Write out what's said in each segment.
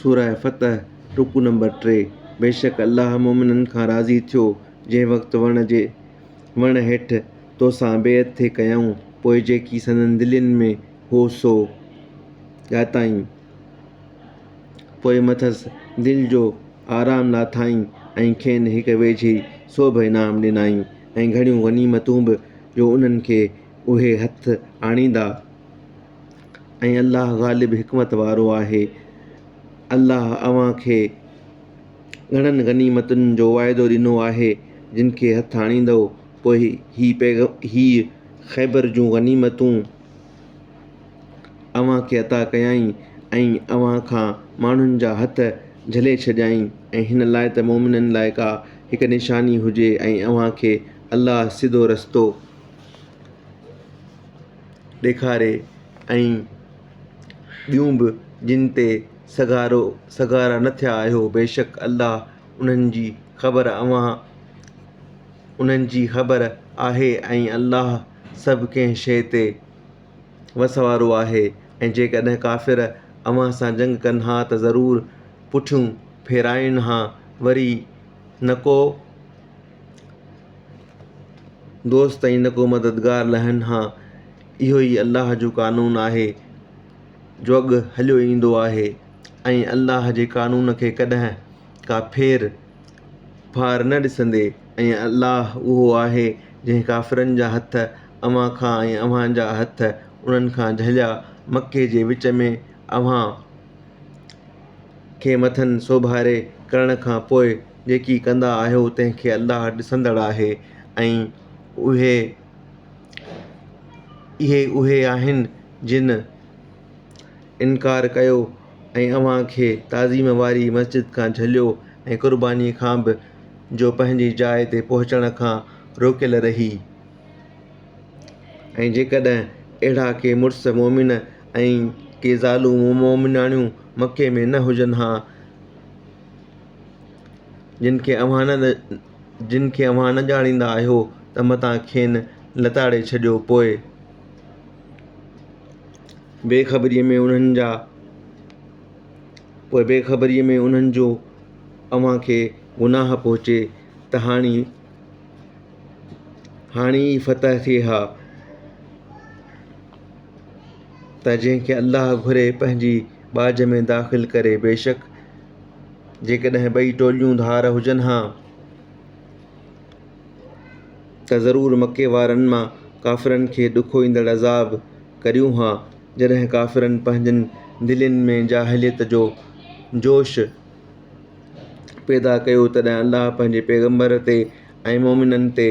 سورة فتح، رڪوع نمبر ٽي، بيشڪ الله مؤمنن کان راضي ٿيو جنهن وقت وڻ جي وڻ هيٺ توسان بيعت ٿي ڪيائون پوء جيڪي سندن دلين ۾ هو سو ڄاتائين پوء مٿس دل جو آرام لاٿائين ۽ کين هڪ ويجهي سوڀ انعام ڏنائين ۽ گهڻيون غنيمتون به جو انهن کي اهي هٿ آڻيندا. ۽ الله غالب حڪمت وارو آهي. الله اوهان کي گهڻن غنيمتن جو واعدو ڏنو آهي، جن کي هٿ آڻيندؤ، پوء هي پيغم هيء خيبر جون غنيمتون اوهان کي عطا ڪيائين ۽ اوهان کان ماڻهن جا هٿ جهلي ڇڏيائين ۽ هن لاء ته مؤمنن لاء ڪا هڪ نشاني هجي ۽ اوهان کي الله سڌو رستو ڏيکاري ۽ ٻيون به جن تي سگهارو سگهارا نه ٿيا آهيو بيشڪ الله انهن جي خبر اوهان انهن جي خبر آهي ۽ الله سڀ ڪنهن شيء تي وس وارو آهي ۽ جيڪڏهن ڪافر اوهان سان جنگ ڪن ها ته ضرور پٺيون ڦيرائين ها وري نه ڪو دوست ۽ نه ڪو مددگار لهن ها اهو ئي الله جو قانون آهي جو اڳ هليو ايندو آهي ۽ الله جي قانون کي ڪڏهن ڪا ڦير ڦار نه ڏسندي ۽ الله اهو آهي جنهن ڪافرن جا هٿ اوهان کان ۽ اوهان جا هٿ انهن کان جهليا مڪي جي وچ ۾ اوهان کي مٿن سوڀاري ڪرڻ کان پوء جيڪي ڪندا آهيو تنهن کي الله ڏسندڙ آهي ۽ اهي اهي اهي آهن جن انڪار ڪيو ۽ اوهان کي تعظيم واري مسجد کان جهليو ۽ قرباني کان به جو پنهنجي جاء تي پهچڻ کان روڪيل رهي ۽ جيڪڏهن اهڙا ڪي مڙس مؤمن ۽ ڪي زالون مؤمناڻيون مڪي ۾ نه هجن ها جن کي اوهان نه جن کي اوهان نه ڄاڻيندا آهيو ته متان کين لتاڙي ڇڏيو پوء بي خبريء ۾ انهن جا پوء بي خبريء ۾ انهن جو اوهان کي گناهه پهچي ته هاڻي هاڻي ئي فتح ٿئي ها ته جنهن کي الله گهري پنهنجي ٻاجهه ۾ داخل ڪري بيشڪ جيڪڏهن ٻئي ٽوليون ڌار هجن ها ته ضرور مڪي وارن مان ڪافرن کي ڏکو ايندڙ عذاب ڪريون ها. جڏهن ڪافرن پنهنجن دلين ۾ جاهليت جو جوش پيدا ڪيو تڏهن الله پنهنجي پيغمبر تي ۽ مؤمنن تي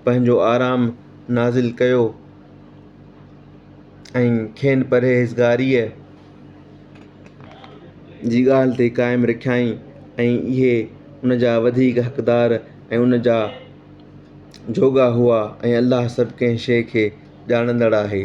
پنهنجو آرام نازل ڪيو ۽ کين پرهيزگاريء جي ڳالهه تي قائم رکيائين ۽ اهي ان جا وڌيڪ حقدار ۽ ان جا جوڳا هئا ۽ الله سڀ ڪنهن شيء کي ڄاڻندڙ آهي